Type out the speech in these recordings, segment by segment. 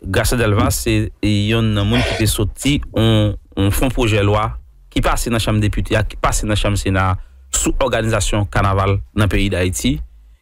Gracia Delva se yonn nan moun ki te soti yon fon pwojè lwa ki pase nan chanm depite a, ki pase nan chanm sena a sou òganizasyon kanaval nan peyi Dayiti.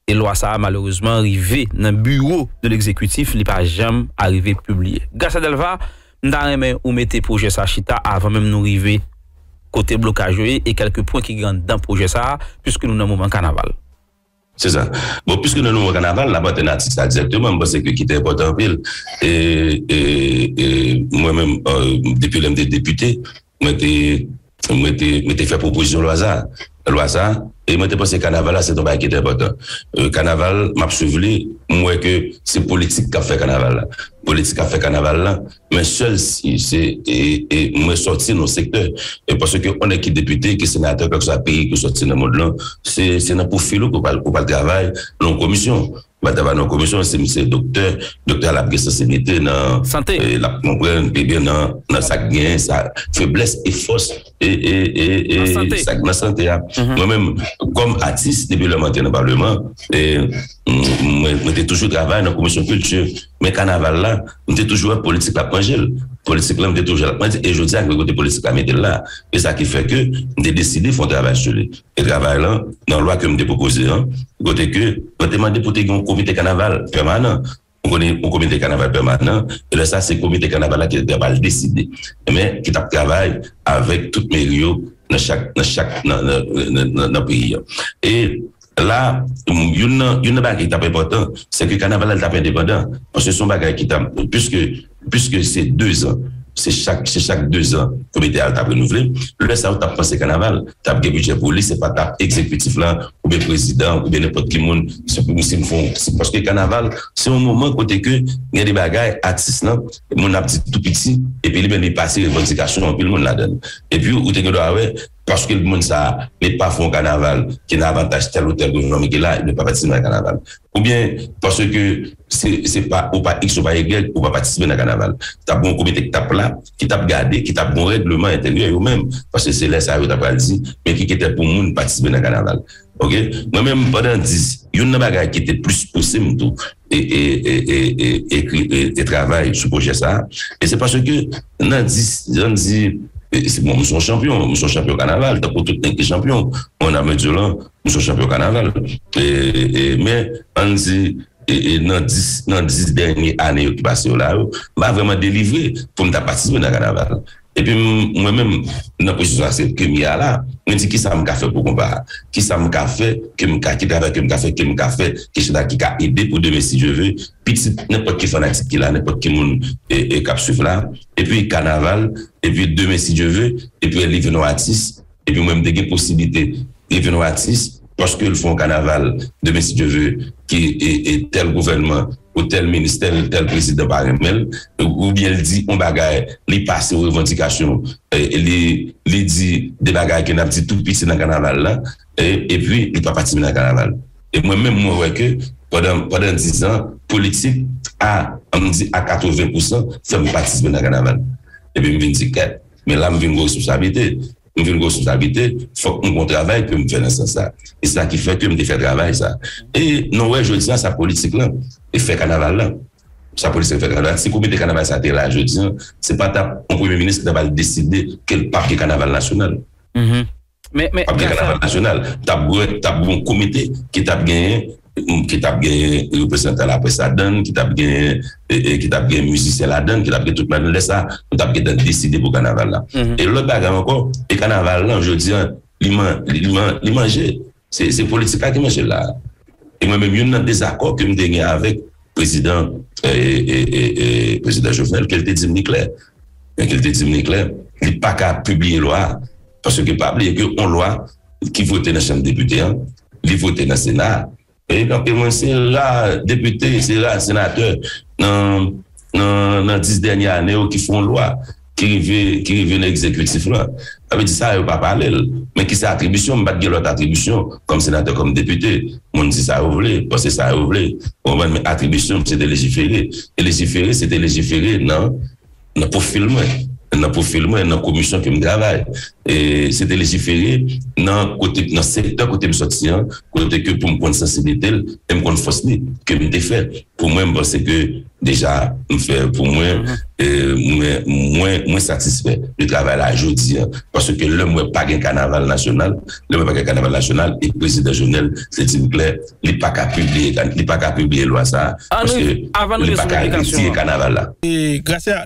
E lwa sa a malerezman rive nan biwo de legzekitif, li pa janm arive pibliye. Gracia Delva, m ta renmen ou mete pwojè sa chita avan menm nou rive kote blokaj yo ye e kèlke pwen ki gen anndan pwojè sa a, piske nou nan moman kanaval. Se sa. Bon piske nou nan mwa kanaval nap anten atis la direkteman m panse ke ki te enpòtan anpil e mwen menm depi lè m te depite mwen te mwen te mwen te fè pwopozisyon lwa sa lwa sa e mwen te panse kanaval la se te yon bagay ki te enpòtan. Kanaval map swiv li m wè ke se politik kap fè kanaval la politik kap fè kanaval la Men sèl si se e mwen sòti nan sektè e paske yon nèg ki depite, ki senatè kèlkeswa peyi ke w sòti nan mond lan se nan pwofil ou ke w pral travay nan yon komisyon. Ou pral travay nan yon komisyon si misye doktè, doktè a l ap gen sansiblite nan, l ap konprann pi byen nan sa k genyen sa feblès e fòs. e e e e sa k nan sante a mwen menm kòm atis depi lè m antre nan paleman e mwen te toujou travay nan komisyon kilti men kanaval la m te toujou wè politik la ap manje l politik la m te toujou wè l ap manje l e jodi a ki kote politik la mete l la e sa ki fè ke m te deside fè yon travay sou li e travay lan nan lwa ke m te pwopoze an kote ke mwen te mande pou te gen yon komite kanaval pèmanan Ou konnen yon komite kanaval pèmanan, e lè sa se komite kanaval la ki te pral deside, men ki t ap travay avèk tout meri yo nan chak nan chak nan peyi an. E la youn nan youn nan bagay ki t ap enpòtan, se ke kanaval la li t ap endepandan, paske se yon bagay ki t ap piske Piske se dezan, se chak se chak dezan komite al t ap renouvle, lè sa ou t ap panse kanaval t ap gen bidjè pou li, se pa t ap egzekitif la oubyen prezidan an oubyen nenpòt ki moun se pou si m fon se paske kanaval se yon moman kote ke gen de bagay atis lan moun ap di tou piti epi li menm li pase revandikasyon anpil moun ladan l epi ou te gen dwa wè Paske moun sa a met pa fon kanaval ki nan avantaj tèl ou tèl gouvènman mete la, ebyen pa patisipe nan kanaval. Oubyen paske se pa ou pa iks ou pa egrèg ou pa patisipe nan kanaval. T ap gen yon komite k t ap la, ki t ap gade, ki t ap gen yon règleman entèryè yo menm. Paske se lè sa a yo ta pral di men ki kritè pou moun patisipe nan kanaval. Ok. Mwen menm pandan 10, youn nan bagay ki te plis pouse m tou ekri e travay sou pwojè sa a e se paske nan di jan m di se bon m son chanpyon m son chanpyon kanaval tankou tout nèg ki chanpyon mwen nan medyolan m son chanpyon kanaval e men an n di e nan dis nan dis dènye ane yo ki pase yo la yo m pa vrèman delivre pou m ta patisipe nan kanaval Epi mwen menm nan pwosesis la se kem ye a la, mwen di kisa mka fè pou konpa a? Kisa mka fè ke mka ki travay ke mka fè ke mka fè ke chita ki ka ede pou demen si Dye ve pitit nenpòt ki fanatik ki la nenpòt ki moun kap swiv la epi kanaval epi demen si Dye ve epi li vin yon atis Epi mwen m te gen posiblite li vin yon atis paske l fè yon kanaval demen si Dye ve ke tèl gouvènman ou tèl ministè l tèl prezidan pa renmen l oubyen l di yon bagay li pase yon revandikasyon li li di de bagay ke n ap di tout piti nan kanaval la epi li pa patisipe nan kanaval e mwen menm mwen wè ke pandan pandan dizan politik a an m di a katreven pousan fè m patisipe nan kanaval epi m vin di kèt. Men la m vin gen responsablite. M vin gen responsablite, fòk m gen yon travay ke m fè nan sans sa. E se sa ki fè ke m te fè travay sa. E nou wè jodi an sa politik lan e fè kanaval lan. Sa politik lan fè kanaval lan. Si komite kanaval sa te la jodi an, se pa t ap yon premye minis ki t ap al deside ke l pa gen kanaval nasyonal. Pap gen kanaval nasyonal, tap gen yon komite ki tap genyen ki tap genyen reprezantan laprès ladann, ki tap genyen ki tap genyen mizisyen ladann, ki tap gen tout ladann lè sa nou tap gentan deside pou kanaval la e lòt bagay ankò e kanaval lan jodi an li man li manje se politik la ki manje l la e mwen menm youn nan dezakò ke m te gen avèk Prezidan Prezidan Jovenel ke l te di m li klè men ke l te di m li klè li pa ka pibliye lwa a paske pa bliye ke yon lwa ki vote nan chanm depite an li vote nan sena a e nou te mwen se ra depite se ra senatè nan nan nan 10 dènye ane yo ki fon lwa. Ki rive ki rive nan egzekitif la. Sa vle di sa yo pa pale l. Men ki se atribisyon m pa t gen lòt atribisyon kòm senatè kòm depite. Moun di sa yo vle, panse sa yo vle. Ou konprann men atribisyon m se te lejifere. E lejifere se te lejifere nan nan pwofil mwen. Nan pwofil mwen nan komisyon ke m travay. E se te lejifere nan kote nan sektè kote m sòti an kote ke pou m konn sansiblite l e m konn fòs li ke m te fè. Pou mwen m panse ke Deja m fè pou mwen e mwen satisfè de travay la jodi an. Paske lè m wè pa gen kanaval nasyonal, lè m wè pa gen kanaval nasyonal e prezidan Jovenel te di m klè li pa ka pibliye lwa sa a paske li pa ka retire kanaval la. Gracia,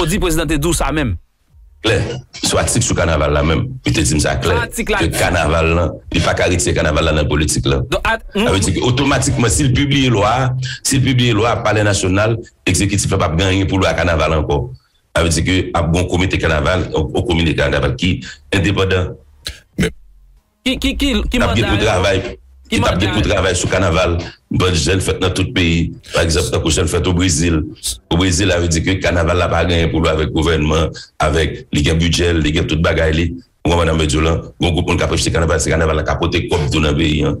Ou di prezidan te di w sa menm? Klè. Sou atik sou kanaval la menm, li te di m sa klè, ke kanaval la, li pa ka retire kanaval la nan politik la. Sa vle di ke otomatikman si l pibliye lwa a, si l pibliye lwa a, palè nasyonal, ekzekitif la p ap gen anyen pou l wè ak kanaval ankò. Sa vle di ke ap gen yon komite kanaval, yon komite kanaval ki endepandan. tap gen pou travay ki tap gen pou travay sou kanaval bann jèn fèt nan tout peyi pa egzanp tankou jèn fèt o brezil o brezil a vle di ke kanaval la pa genyen pou l wè avèk gouvènman avèk li gen bidjè l li gen tout bagay li ou konprann sa m vle di w lan gon gwoup moun k ap achte kanaval se kanaval la k ap pote kòb tou nan peyi an.